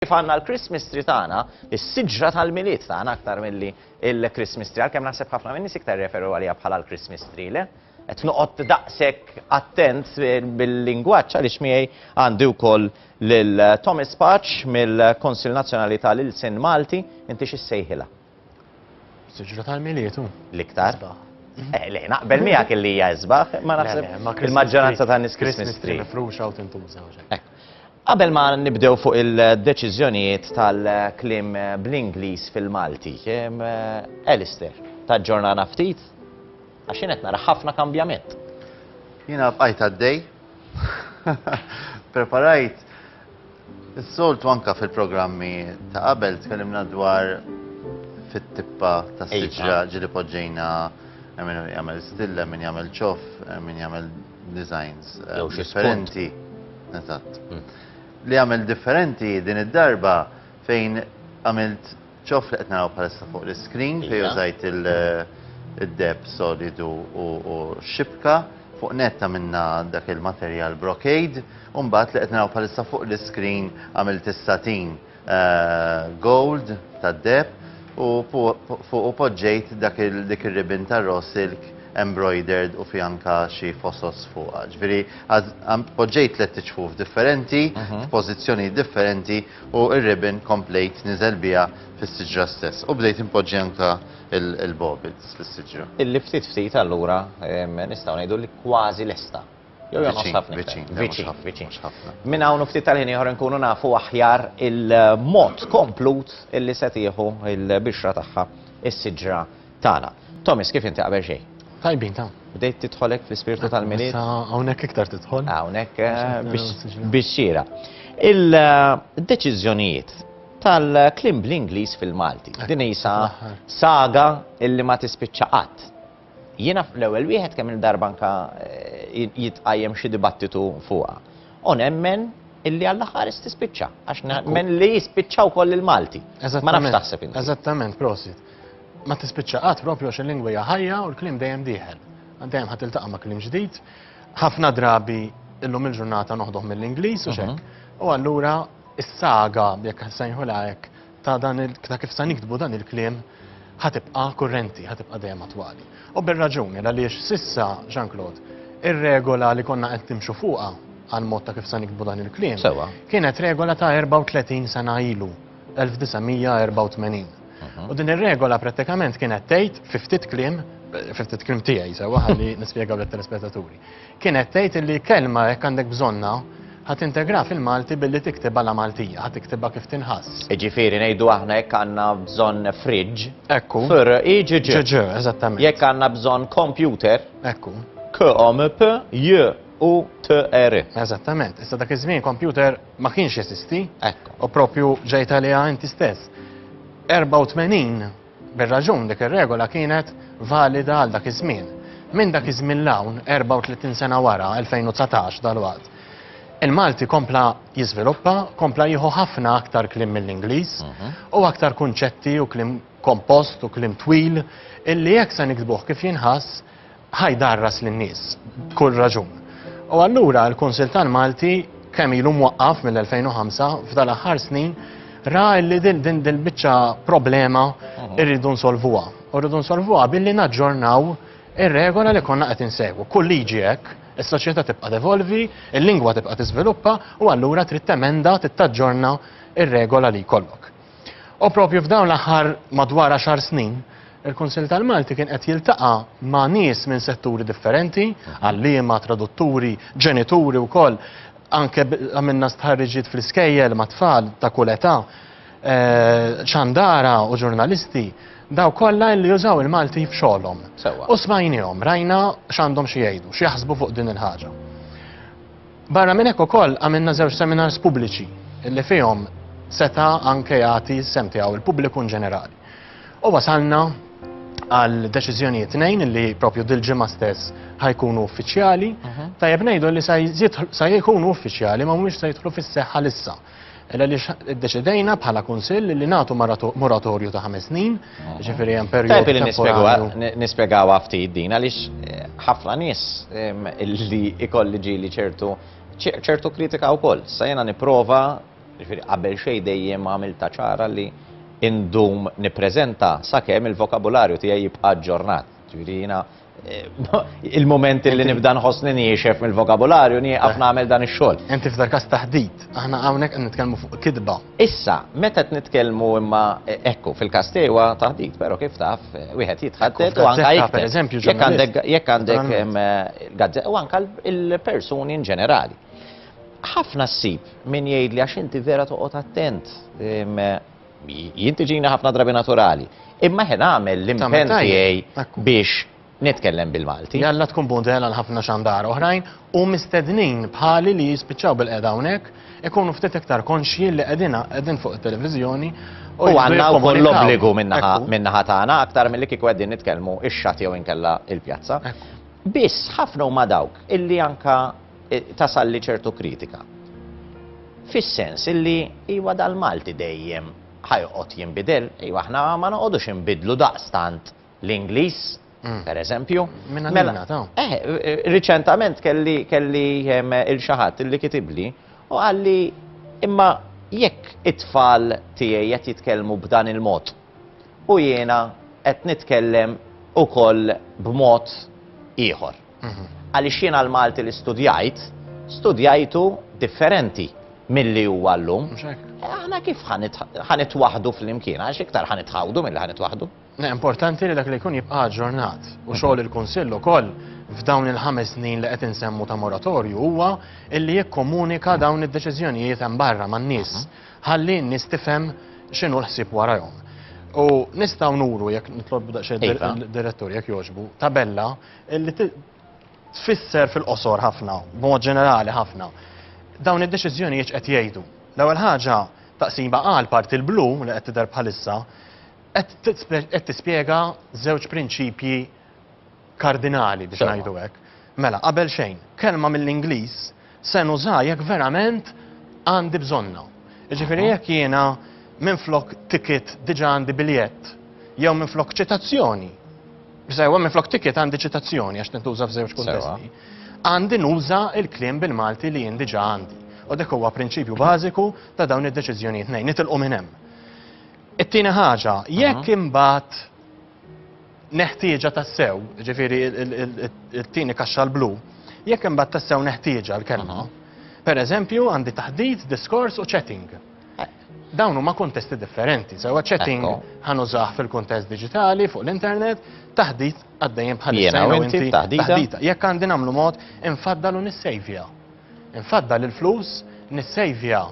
Kif għandna l-Christmas tree tagħna, is-siġra tal-Milied tagħna aktar milli l-Christmas tree, għalkemm naħseb ħafna min-nies iktar jirreferu għaliha bħala l-Christmas tree, le? Qed noqgħod daqshekk attent bil-lingwaġġ għaliex miegħi għandi wkoll lil Thomas Paċ mill-Kunsill Nazzjonali tal-Ilsien Malti, inti x'issejħilha? Siġra tal-miliet hu. L-iktar. Mhm. Eh, le, naqbel miegħek li hija isbaħ, ma naħseb il-maġġoranza ta' nies Christmas tree. Mifruxa u tintuża. Eh. Qabel ma nibdew fuq il-deċiżjonijiet tal-klim bl-Ingliż fil-Malti, eh, Alistair, ta' ġurnana ftit, għax qed nara ħafna kambjament. Jiena bqajt għaddej, preparajt Is-soltu anke fil-programmi ta' qabel tkellimna dwar fit-tippa ta' iva. siġra ġili poġġejna min jagħmel stilla, min jagħmel ċof, min jagħmel designs eh, differenti. Eżatt. Hmm. Li jagħmel differenti din id-darba fejn għamilt Ġoff li qed naraw bħalissa fuq l-iskrin fejn użajt id-deb solidu u x-xibka, fuq nett għamilna dak il-materjal brocade, u mbagħad li qed naraw bħalissa fuq l-iskrin għamilt is-satin gold tad-deb u fuqu poġġejt dak dik ir-ribbon ta' raw silk embroidered u fiha anke xi fosos fuqha. Ġifieri poġġejt tliet iċfuf differenti f'pożizzjonijiet differenti U r-ribbon komplejt niżel biha fis-siġra stess u bdejt inpoġġi anke l-bobils fis-siġra. Illi ftit ftit allura nistgħu ngħidu li kważi lesta. Jew jonqos ħafna iktar. Viċin, viċin, le viċin, mhux ħafna. Minn hawn u ftit tal-ħin ieħor inkunu nafu aħjar il-mod komplut illi se tieħu l-bixra tagħha s-siġra. Tagħna. Thomas, kif inti qabel xejn? Tajbin ta'. Bdejt tidħol hekk fl-ispirtu tal-milied? Hawnhekk iktar tidħol. Hawnhekk eh, biex xira. Il-deċiżjonijiet eh, tal-klim bl-Ingliż fil-Malti. Din isa saga illi ma tispiċċa qatt. Jiena fl-ewwel wieħed kemm il-darba anka eh, jitqajjem xi dibattitu fuqha. U nemmen illi għall-aħħar tispiċċa għax nemmen li jispiċċaw koll il-Malti. Ma nafx taħseb Eżattament, prosit. Ma tispiċċa qatt propju għax il-lingwa hija ħajja u l-kliem dejjem dieħel. Dejjem ħadd iltaqa' ma' kliem ġdid. Ħafna drabi illum il-ġurnata noħduh mill-Ingliż u xek. U allura is-saga, jekk sejħula hekk, ta' dan il ta' kif sa niktbu dan il-kliem ħatibqa' kurrenti, ħatibqa' dejjem attwali. U bir-raġuni għaliex sissa Jean-Claude, ir-regola li konna qed nimxu fuqha għal mod ta' kif sa niktbu dan il-kliem. Sewa. Kienet regola ta' 34 sena ilu, 1984. U din ir-regola prattikament kienet tgħid fi ftit kliem, fi ftit kliem tiegħi sewwa ħalli nispjegaw lit-telespettaturi. Kienet tgħid li kelma jekk għandek bżonna ħat integra fil-Malti billi tiktibha la Maltija, ħat tiktibha kif tinħass. Iġifieri ngħidu aħna jekk għandna bżonn fridġ. Ekku. Fir iġiġ. Ġiġ, eżattament. Jekk għandna bżonn kompjuter. Ekku. K-omp, j u t r Eżattament. Issa dak iż-żmien kompjuter Ma kienx jeżisti. Hekk. U proprju ġejt għaliha inti stess. 84 bir-raġun dik ir-regola kienet valida għal dak iż-żmien. Minn dak iż-żmien 'l hawn, 34 sena wara, 2019 dalwaqt, il-Malti kompla jiżviluppa, kompla jieħu ħafna aktar kliem mill-Ingliż u aktar kunċetti u kliem kompost u kliem twil illi jekk se niktbuh kif jinħass, Ħa jdarras lin-nies, b'kull raġun. U allura l-Kunsill tal-Malti kemm ilu mwaqqaf mill-2005 f'dal-aħħar snin ra li din din dil-biċċa problema mhm. irridu nsolvuha. U rridu nsolvuha billi naġġornaw ir-regola li konna qed insegwu. Kull liġi hekk, is-soċjetà tibqa' devolvi, il-lingwa tibqa' tiżviluppa u allura trid temenda tittaġġorna ir-regola li jkollok. U propju f'dawn l-aħħar madwar għaxar snin, il-Kunsill tal-Malti kien qed jiltaqa' ma' nies minn setturi differenti, għalliema, tradutturi, ġenituri wkoll, anke għamilna stħarriġiet fl-iskejjel ma' tfal ta' kull età, eh, xandara u ġurnalisti, daw kollha li jużaw il-Malti f'xogħolhom. U smajnihom, rajna x'għandhom xi jgħidu, x'jaħsbu fuq din il-ħaġa. Barra minn hekk ukoll għamilna żewġ seminars pubbliċi li fihom seta' anke jagħti s-sehem tiegħu l-pubbliku in ġenerali. U wasalna għal deċiżjonijiet tnejn li propju dil-ġimgħa stess ħajkunu uffiċjali, mhm. tajjeb ngħidu li sa jkunu uffiċjali ma mhumiex se jidħlu fis-seħħa lissa. Għaliex iddeċidejna bħala kunsill li nagħtu moratorju ta' ħames snin, ġifieri hemm perjodu. Tajb li nispjegaw nispjegaw ftit din għaliex eh, ħafna nies ehm, li ikolli ġieli ċertu ċertu kritika wkoll. Sa jiena nipprova, ġifieri qabel xejn dejjem għamil ta' ċara li indum nippreżenta sakemm il-vokabularju tiegħi jibqa' ġġornat. Ġifieri jiena il-moment li nibda nħossni niexef mill-vokabularju nieqaf nagħmel dan ix-xogħol. Inti f'dar każ taħdit, aħna hawnhekk qed nitkellmu fuq kidba. Issa, meta qed nitkellmu imma e, ekku fil-każ tiegħu taħdit, però kif taf wieħed jitħadded u anke jekk jekk għandek jekk għandek e, u anke il-persuni in ġenerali. Ħafna ssib min jgħid li għax inti vera toqgħod attent e, Jintiġina ħafna drabi naturali. Imma ħen għamel l-impen tiegħi biex nitkellem bil-Malti. Jalla tkun budela l-ħafna xandar oħrajn u mistednin bħali li jispiċċaw bil-qeda hawnhekk ikunu ftit iktar konxji li qegħdina qegħdin fuq it-televiżjoni U għanna u koll l-obbligu minnaħa tagħna aktar mill-li kieku għeddin nitkellmu ix-xat jew inkella il-pjazza. Biss ħafna huma dawk illi anka tasalli ċertu kritika. Fis-sens illi iwa dal-Malti dejjem ħajqgħod jinbidel, iwa aħna ma noqogħdux inbidlu daqstant l-Ingliż, mm. per eżempju. Minna mela, ta' eh, eh, Riċentament kelli kelli ehm, il-xaħat illi kitibli u għalli imma jekk it-tfal tiegħi qed jitkellmu b'dan il-mod u jiena qed nitkellem ukoll b'mod ieħor. Għaliex jiena l-Malti li studjajt, studjajtu differenti milli huwa llum. Mhux hekk? Eh, aħna kif ħa nitwaħħdu flimkien, għax iktar ħa nitħawdu milli ħa nitwaħħdu. Eh, importanti li dak li jkun jibqa' ġurnat u xogħol il-Kunsill ukoll f'dawn il-ħames snin li qed insemmu ta' moratorju huwa illi jikkomunika dawn id-deċiżjonijiet hemm barra man-nies ħalli n-nies tifhem x'inhu l-ħsieb warajhom. U nistgħu nuru jekk nitlob daqsxejn iva. direttur jekk jogħġbu tabella Li tfisser fil-qosor ħafna, b'mod ġenerali ħafna. Dawn id-deċiżjonijiet qed jgħidu. L-ewwel ħaġa taqsima għal parti l-blu li qed tidher bħalissa qed tispjega żewġ prinċipji kardinali biex ngħidu hekk. Mela, qabel xejn, kelma mill-Ingliż se nuża jekk verament għandi bżonnu. Jiġifieri jekk jiena minflok ticket diġà għandi biljett jew minflok ċitazzjoni, sewa minflok ticket għandi ċitazzjoni għax tintuża f'żewġ kuntesti, għandi nuża l-kliem bil-Malti li jien diġà għandi. U dak huwa prinċipju bażiku ta' dawn id-deċiżjonijiet ngħid nitilqu minn hemm. It-tieni ħaġa, jekk imbagħad neħtieġa tassew, ġifiri il-tini kaxxa l-blu, jekk imbagħad tassew neħtieġa l-kelma, per eżempju għandi taħdit, diskors u chatting. Eh. Dawn huma kontesti differenti, sewa chatting ħanużah fil-kontest digitali fuq l-internet, taħdit għaddejjem bħal taħdita. Jekk għandi nagħmlu mod infaddalu nissejvja. Infaddal il-flus, nissejvja.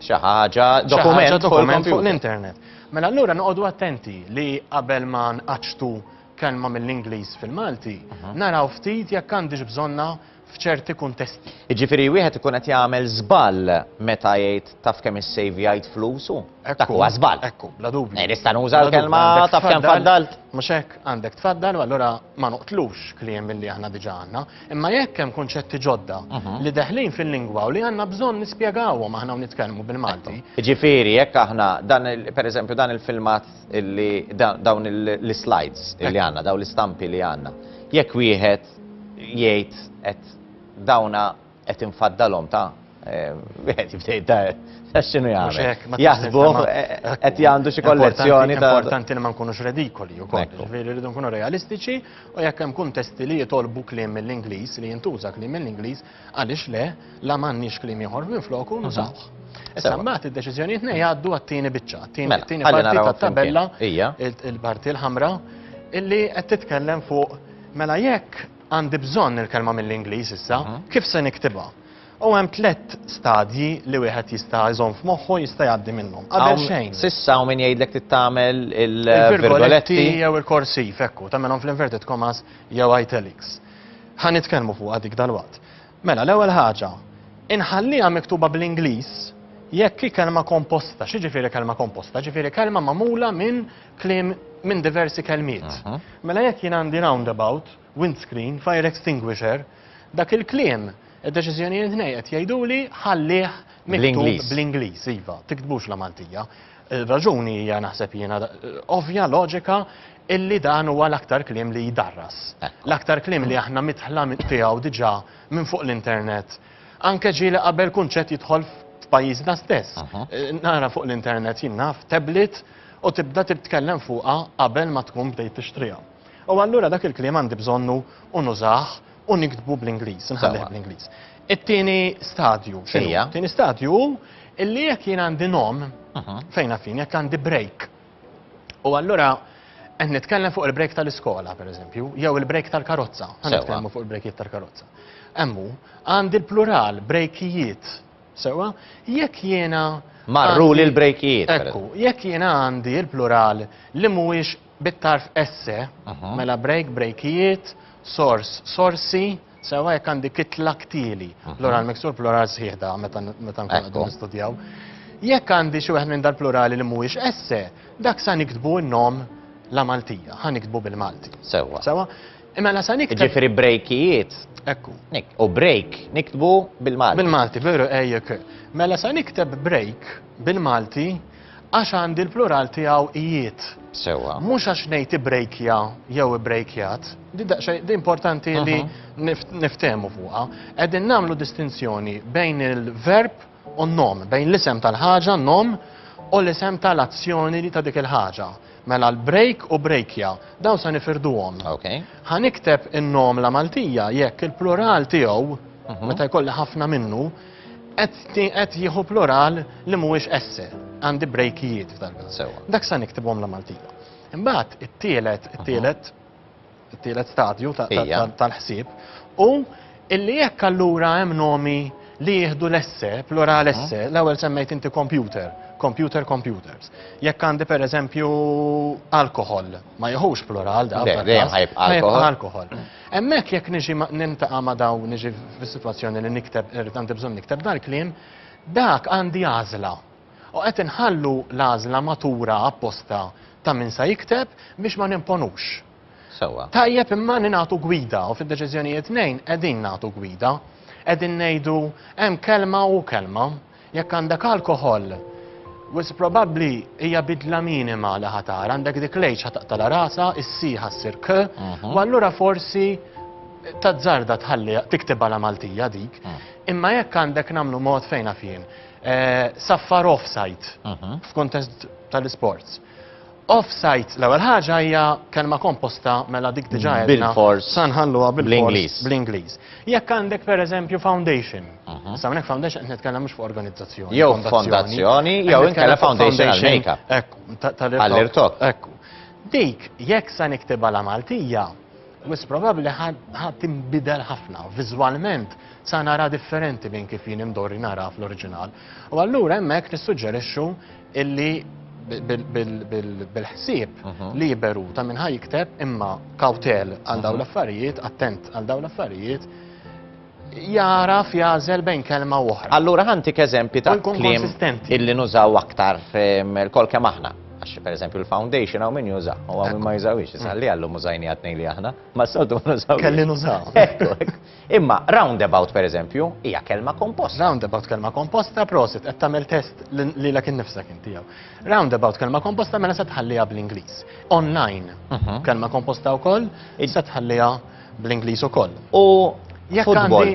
Xi ħaġa, dokument fuq l-internet. Mela allura noqogħdu attenti li qabel ma nqaċtu kelma mill-Ingliż fil-Malti, mhm. naraw ftit jekk għandix bżonna f'ċerti kuntesti. Jiġifieri wieħed ikun qed jagħmel żball meta jgħid taf kemm issejvjajt flusu? Dak huwa żball. Ekku, bla dubju. Eh, nista' nuża l-kelma taf kemm faddalt. Mhux hekk, għandek tfaddal u allura ma noqtlux kliem milli aħna diġà għandna. Imma jekk hemm kunċetti ġodda mhm. li deħlin fil-lingwa u li għandna bżonn nispjegawhom aħna u nitkellmu bil-Malti. Ġifieri jekk aħna dan pereżempju dan il-filmat li dawn l-slides li għandna, dawn l-istampi li għandna. Jekk wieħed jgħid qed dawna Qed infaddalhom ta'. Wieħed jibda jidher ta' x'inhu jagħmel. Jaħsbuh qed jgħandu xi kollezzjoni ta' importanti li ma nkunux redikoli wkoll. Ġifieri rridu nkunu realistiċi u jekk hemm kuntesti li jitolbu kliem mill-Ingliż li jintuża kliem mill-Ingliż għaliex le la m'għandniex kliem ieħor minfloku nużawh. Issa mbagħad id-deċiżjonijiet nej jgħaddu għat-tieni biċċa, tieni parti tat-tabella, il-parti l-ħamra, illi qed titkellem fuq mela jekk Għandi bżonn il-kelma mill-Ingliż issa. Kif se niktibha? U hemm tlett stadji li wieħed jista' jżomm f'moħħu jista' jgħaddi minnhom. Qabel xejn. S'issa hawn min jgħidlek trid tagħmel il-virgoletti jew il-korsiv, ekku, tagħmilhom fl-inverted commas jew italics. Ħa nitkellmu fuqha dik dalwaqt. Mela, l-ewwel ħaġa, inħalliha miktuba bl-Ingliż jekk hi kelma komposta. X'jiġifieri kelma komposta? Jiġifieri kelma magħmula minn Kliem minn diversi kelmiet. Mela jekk jien għandi roundabout, windscreen, fire extinguisher, dak il-kliem id-deċiżjonijiet nej qed jgħiduli ħallih miktub bl-Ingliż, iva, tiktbux la Maltija. Raġuni hija naħseb jiena ovvja, loġika, illi dan huwa l-aktar kliem li jdarras. L-aktar kliem li aħna mitħla tiegħu diġà minn fuq l-internet Anke ġieli qabel kunċett jidħol f'pajjiżna stess. Nara fuq l-internet jien naf tablet u tibda titkellem fuqha qabel ma tkun bdejt tixtriha. U allura dak il-kliem għandi bżonnu u nużah u niktbu bl-Ingliż, nħallih bl-Ingliż. It-tieni stadju x'inhu? It-tieni stadju hu illi jekk jien għandi nom, fejn għarfien, jekk għandi break, U allura qed nitkellem fuq il-break tal-iskola, pereżempju, jew il-break tal-karozza. Qed nitkellmu fuq il-breakijiet tal-karozza. Emmu, għandi l-plural, brejkijiet. Sewa, jekk jiena. Marru li l-brejkijiet. Ekku, jekk jiena għandi l-plural li mhuwiex bit-tarf esse, mhm. mela break, brejkijiet, sors, sorsi, Sewwa jekk għandi kitla ktieli, plural miksur, plural sħiħ da meta meta nkunu qegħdin nistudjaw. Jekk għandi xi wieħed minn dal-plurali li mhuwiex esse, dak sa niktbu n-nom la Maltija, ħa niktbu bil-Malti. Sewwa. Sewwa? Imma la sa niktbu. Ġifieri brejkijiet. Ekku. U break niktbu bil-Malti. Bil-Malti, veru ejjek. Mela sa nikteb break bil-Malti Għax għandi l-plural tiegħu ijiet. Sewwa. Mhux għax ngħid ibrejkja jew ibrejkjat, di daqsxejn di importanti li niftehmu fuqha. Qegħdin nagħmlu distinzjoni bejn il-verb u n-nom, bejn l-isem tal-ħaġa, nom, u l-isem tal-azzjoni li ta' dik il-ħaġa. Mela l-brejk u brejkja, dawn se nifirduhom. Okay. Ħa nikteb in-nom la Maltija jekk il-plural tiegħu, meta jkolli ħafna minnu, Qed jieħu plural li mhuwiex esse, għandi brejkijiet f'dan. Sewa. Dak sa niktibhom la Maltija. Imbagħad it-tielet, it-tielet, it-tielet stadju tal-ħsieb u illi jekk allura hemm nomi li jieħdu l-esse, plural esse, l-ewwel semmejt inti computer, computer computers. Jekk għandi pereżempju alkohol, Ma jieħux plural da. Le, dejjem ħajbqa' alkoħol. alkoħol. Hemmhekk jekk niġi nintaqa' ma' daw niġi fis-sitwazzjoni li nikteb irid għandi bżonn nikteb dal-kliem, dak għandi għażla. U qed inħallu l-għażla matura apposta ta' min sa jikteb biex ma nimponux. Sewa. Tajjeb imma ningħatu gwida u fid-deċiżjonijiet nejn qegħdin nagħtu gwida. Qegħdin ngħidu hemm kelma u kelma. Jekk għandek alkoħol, wis probabbli hija bidla minima li ħatar, għandek dik l-age ħataqtala rasa, is-siħa ssir k, mhm. u allura forsi tazzarda tħalli tiktib għala Maltija dik. Mm. Imma jekk għandek namlu mod fejna fien, eh, saffar offside mhm. f'kontest tal-sports. Off-site, l-ewwel ħaġa hija kelma komposta mela dik diġà għedna. Bil-fors. Sa nħalluha bil-Ingliż. Bl-Ingliż. Jekk għandek pereżempju foundation, mhm. sa minn hekk foundation qed nitkellem mhux fuq organizzazzjoni. Jew fondazzjoni, jew inkella foundation għal-makeup. Għall-irtok. Ekku. Dik jekk sa niktibha la Maltija, mis probabbli ħadd imbidel ħafna viżwalment sa nara differenti minn kif jien imdorri nara fl-oriġinal. U allura hemmhekk nissuġġerixxu illi bil-ħsieb mhm. liberu ta' minn ħaj jikteb imma kawtel għal dawn mhm. l-affarijiet, attent għal dawn l-affarijiet, jara fjazel bejn kelma u oħra. Allura ħantik eżempi ta' klim illi nużaw aktar kol kem aħna. Għax per eżempju l-foundation għaw min juża, u għaw min ma jużawix, jisalli għallu mużajni għatni li aħna, ma s-soltu ma nużaw. Kelli nużaw. Imma roundabout pereżempju hija kelma komposta. Roundabout kelma komposta, prosit, qed tagħmel test lilek innifsek inti jew. Roundabout kelma komposta mela se tħalliha bl-Ingliż. Online mhm. kelma komposta wkoll, se tħalliha bl-Ingliż ukoll. U futbol.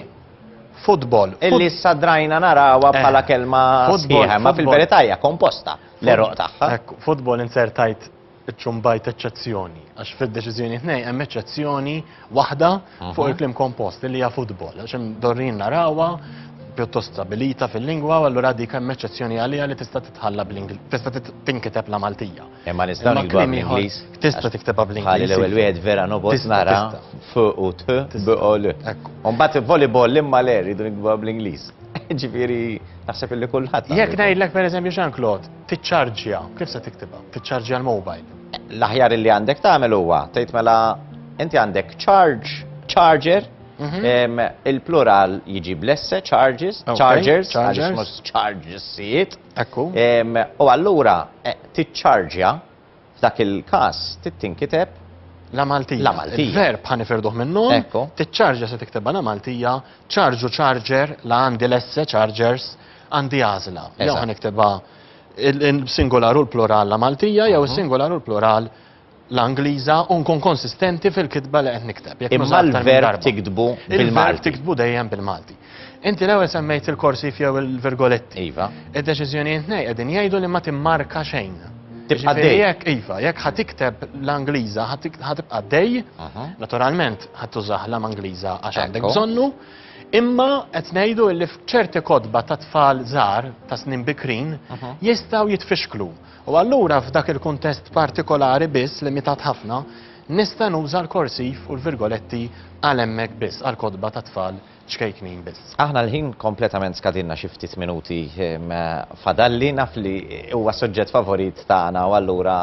Futbol. Illi sadrajna narawa eh, bħala kelma sħiħa, ma fil-verità hija komposta l-eroq tagħha. Futbol insertajt iċċumbajt eċċezzjoni, għax fid-deċiżjoni tnej hemm eċċezzjoni waħda fuq mhm. il-klim kompost li hija futbol, għax hemm dorrin narawha pjuttost stabilita fil-lingwa, allura dik hemm eċċezzjoni għalija li tista' titħalla bl-Ingliż, tista' tinkiteb la Maltija. Imma nistgħu nikbu bl-Ingliż. Tista' tiktebha bl-Ingliż. Ħalli l-ewwel wieħed vera nobos nara f u t biqol. Mbagħad volleyball imma le rridu nikbu bl-Ingliż. Ġifieri naħseb illi kulħadd. Jekk ngħidlek pereżempju Jean Claude, Tiċċarġja, kif se tiktibha? Tiċċarġja l-mobile. L-aħjar li għandek tagħmel huwa tgħid mela inti għandek charge, charger, mhm. il-plural jiġi blesse, charges, chargers, għaliex mhux charges sijiet. Ekku. U allura eh, tiċċarġja F'dak il-każ trid tinkiteb La Maltija. La Maltija. Il-verb ħa nifirduh minnhom. Ekku. Tiċċarġa se tiktebha La Maltija, ċarġu ċarġer, la għandi lesse ċarġers, għandi għażla. Jew ħa niktebha il-singolar u l-plural La Maltija jew is-singolar u l-plural l-Angliża u nkun konsistenti fil-kitba li qed nikteb. Imma l-verb tiktbu bil-Malti. Il-verb tiktbu dejjem bil-Malti. Inti l-ewwel semmejt il-korsif jew il-virgoletti. Iva. Id-deċiżjonijiet nej qegħdin jgħidu li ma timmarka xejn. Tibqa' Ġifieri dej. jekk iva, jekk ħa tikteb l-Angliża ħa tik- ħa tibqa' dej, Aha. naturalment ħa tużah l-am Angliża għax għandek Ekku. bżonnu, imma qed ngħidu li f'ċerti kotba ta' tfal żgħar ta' snin bikrin Aha. jistgħu jitfixklu. U allura f'dak il-kuntest partikolari biss limitat ħafna, nista' nuża l-korsif u l-virgoletti għal hemmhekk biss għal kotba ta' tfal ċkejknin biss. Aħna l-ħin kompletament skadilna xi ftit minuti fadalli, naf li huwa suġġett favorit tagħna u allura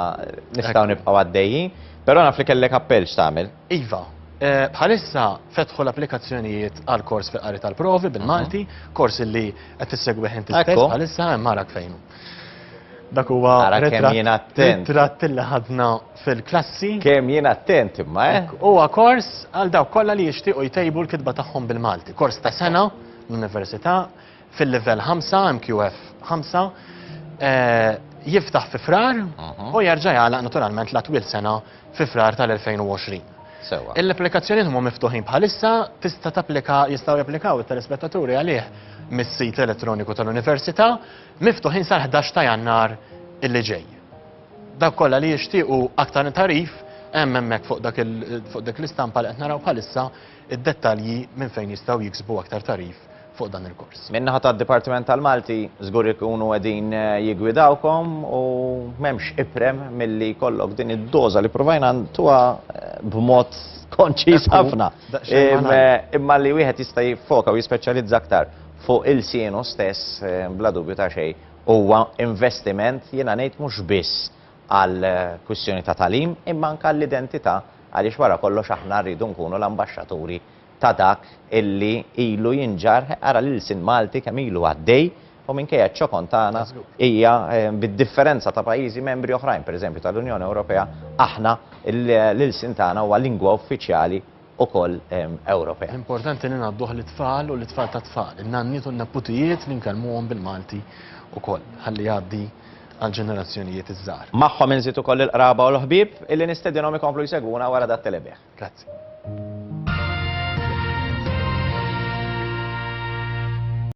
nistgħu nibqgħu għaddejjin, però naf li kellek appell x'tagħmel. Iva, bħalissa fetħu l-applikazzjonijiet għal kors fi qari tal-provi bil-Malti, kors li qed issegwih inti stess bħalissa hemm arak fejn hu. Dak huwa ritratt li ħadna fil-klassi. Kemm jien attent imma, eh! Hekk, huwa kors għal dawk kollha li jixtiequ jtejbu l-kitba tagħhom bil-Malti. Kors ta' sena l-Università fil-livell ħamsa, MQF ħamsa, jiftaħ fi Frar u jerġa' jagħlaq naturalment la twil sena fi Frar tal-2020. Sewwa. Il-applikazzjonijiet huma miftuħin bħalissa, tista' tapplika, jistgħu japplikaw it-telespettaturi għalih mis-sit elettroniku tal-Università, miftuħin sal-ħdax ta' Jannar illi ġej. Dawk kollha li jixtiequ aktar tagħrif, hemm hemmhekk fuq dak fuq dik l-istampa li qed naraw bħalissa id-dettalji minn fejn jistgħu jiksbu aktar tagħrif fuq dan il-kors. Min-naħa tad-Dipartiment tal-Malti żgur ikunu qegħdin jiggwidawkom u m'hemmx iprem milli jkollok din id-doża li provajna ntuha b'mod konċiż ħafna. Imma li wieħed jista' jiffoka u jispeċjalizza aktar fuq il-sienu stess bla dubju ta' xejn Huwa investiment, jiena ngħid mhux biss għal kwistjoni ta' tagħlim, imma anke għall-identità għaliex wara kollox aħna rridu nkunu l-ambaxxaturi ta' dak illi ilu jinġarr, ara l-ilsien Malti kemm ilu għaddej u minkejja ċ-ċokon tagħna hija bid-differenza ta' pajjiżi membri oħrajn, pereżempju tal-Unjoni Ewropea, aħna l-ilsien tagħna huwa lingwa uffiċjali ukoll Ewropea. L-importanti li ngħadduh lit-tfal u lit-tfal tat-tfal, in-nanniet u n-neputijiet li nkellmuhom bil-Malti ukoll, ħalli jgħaddi għall-ġenerazzjonijiet iż-żgħar. Magħhom inżid ukoll lill-qraba u l-ħbieb illi nistedinhom ikomplu jsegwuna wara dat-telebih. Grazzi.